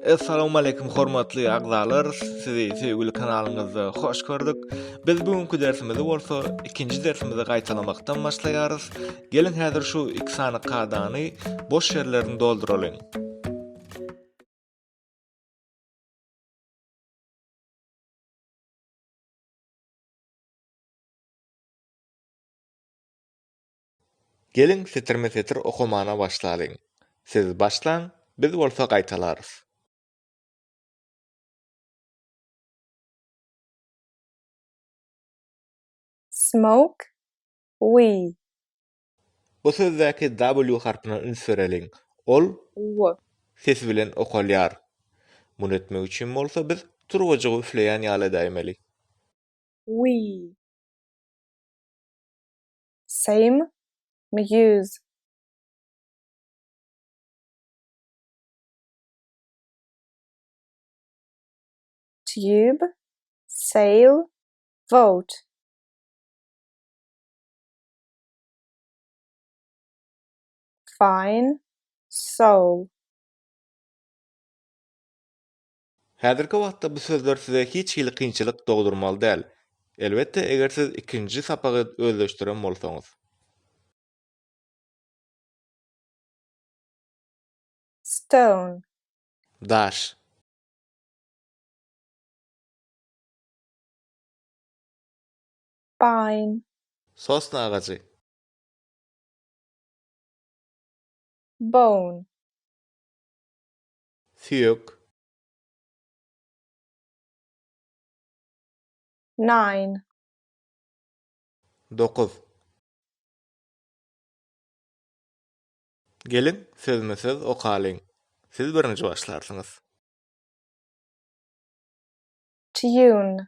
Assalamualeykum hormatly agzalar, sizi söýgüli kanalyňyzda hoş gördük. Biz bu günki dersimizi bolsa ikinji dersimizi gaýtalamakdan başlaýarys. Geliň häzir şu iki sany kadany boş ýerlerini dolduralyň. Geliň setirme-setir okamana başlalyň. Siz başlaň, biz bolsa gaýtalarys. Smoke we Bu sözdäki W harpyna üns bereliň. Ol W. sesi bilen okalýar. Muny etmek üçin bolsa biz turbajygy üfleýän ýaly edäýmeli. We. Same mi ýüz. Tube, sail, vote. Fine soul. Häzirki wagtda bu sözler size hiç hili kynçylyk dogdurmaly däl. Elbetde eger siz ikinji sapagy özleşdiren bolsaňyz. Stone. Daş. baýyn. Sosna agajy. Bone. Süýek. Nine. Dokuz. Geliň, sözme-söz okalyň. Siz birinji başlarsyňyz. Tune.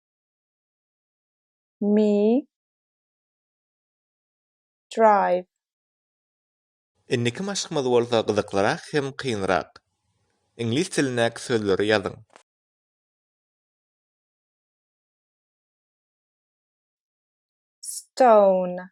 Me drive. Indiki maşkymyz bolsa gyzyklyrak hem kynrak. Iňlis dilindäki sözleri ýazyň. Stone.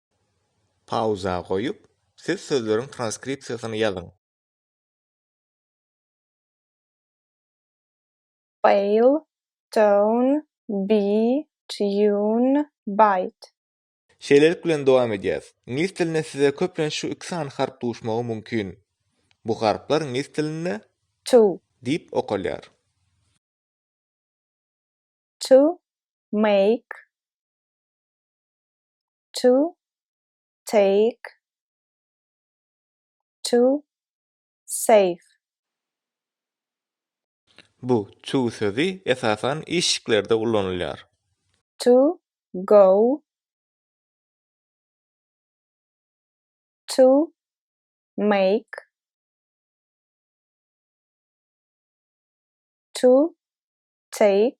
Pauza goýup, siz sözleriň transkripsiýasyny ýazyň. Bail, down, beat, tune, bite. Şeýlelik bilen dowam edýäs. Iňlis dilinde size köplenç şu iki sany harp duşmagy mümkin. Bu harplar iňlis dilinde. To. Diýip okalýar. To make. to take to save. Bu to sözi esasan işiklerde ulanylýar. To go to make to take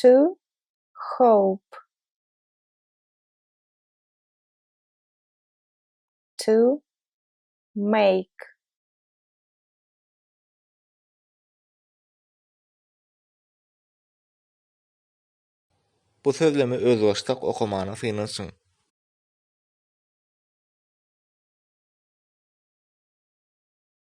To hope. To make. Bu sözlemi özbaşdak okamana synanyşyň.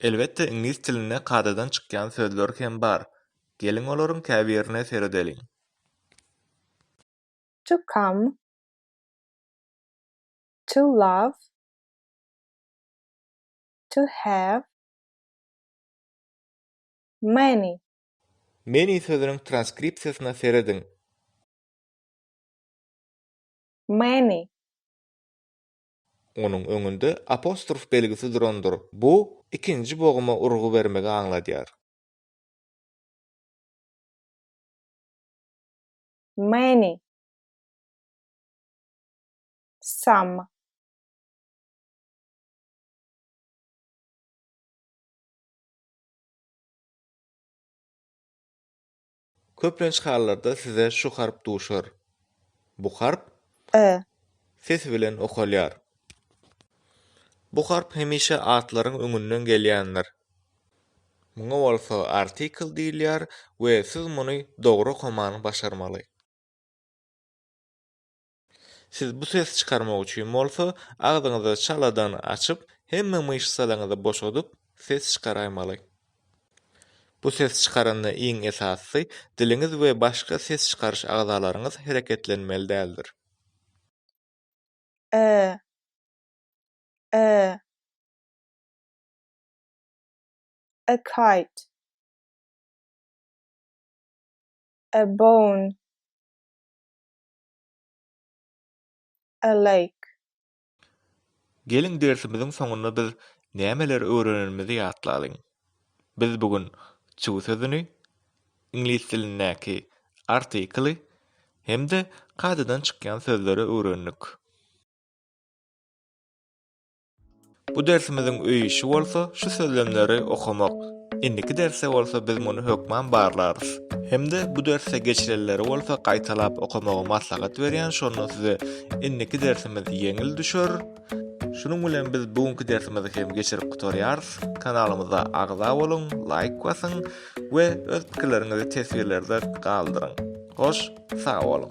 Elbetde iňlis dilinde kadadan çykýan sözler hem bar. Geliň olaryň käbirine seredeliň. To come To love To have Many. Many sözüniň transkripsiýasyna serediň. Many Onuň öňünde apostrof belgisi durandyr, bu ikinji boguma urgy bermegi aňladýar. Many, some. Köplenç hallarda size şu harp duşar. Bu harp E. sesi bilen okalýar. Bu harp hemişe atlaryň öňünden gelýändir. Muňa bolsa artikl diýilýär we siz muny dogry okamany başarmaly. Siz bu sesi çykarmak üçin bolsa, agzyňyzy çaladan açyp, hemme myşsalaryňyzy boşadyp, ses çykaraýmaly. Bu sesi çykaranda iň esasysy, diliňiz we başga ses çykaryş agzalaryňyz hereketlenmeli däldir. Ä. Ä. A kite. A bone. a like. Geliň dersimiziň soňunda biz nämeleri öwrenenimizi ýatlalyň. Biz bu gün to sözüni, iňlis dilindäki artikly hem-de kadadan çykýan sözleri öwrendik. Bu dersimiziň öý işi bolsa şu sözlemleri okamak. Indiki derste bolsa biz muny hökman barlarys. Hem-de bu derste geçilenleri bolsa gaýtalap okamagy maslahat berýän şonda size indiki dersimiz ýeňil düşer. Şunuň bilen biz bu günki dersimizi hem geçirip gutarýarys. Kanalymyza agza boluň, laýk basyň we öz pikirleriňizi teswirlerde galdyryň. Hoş, sag boluň.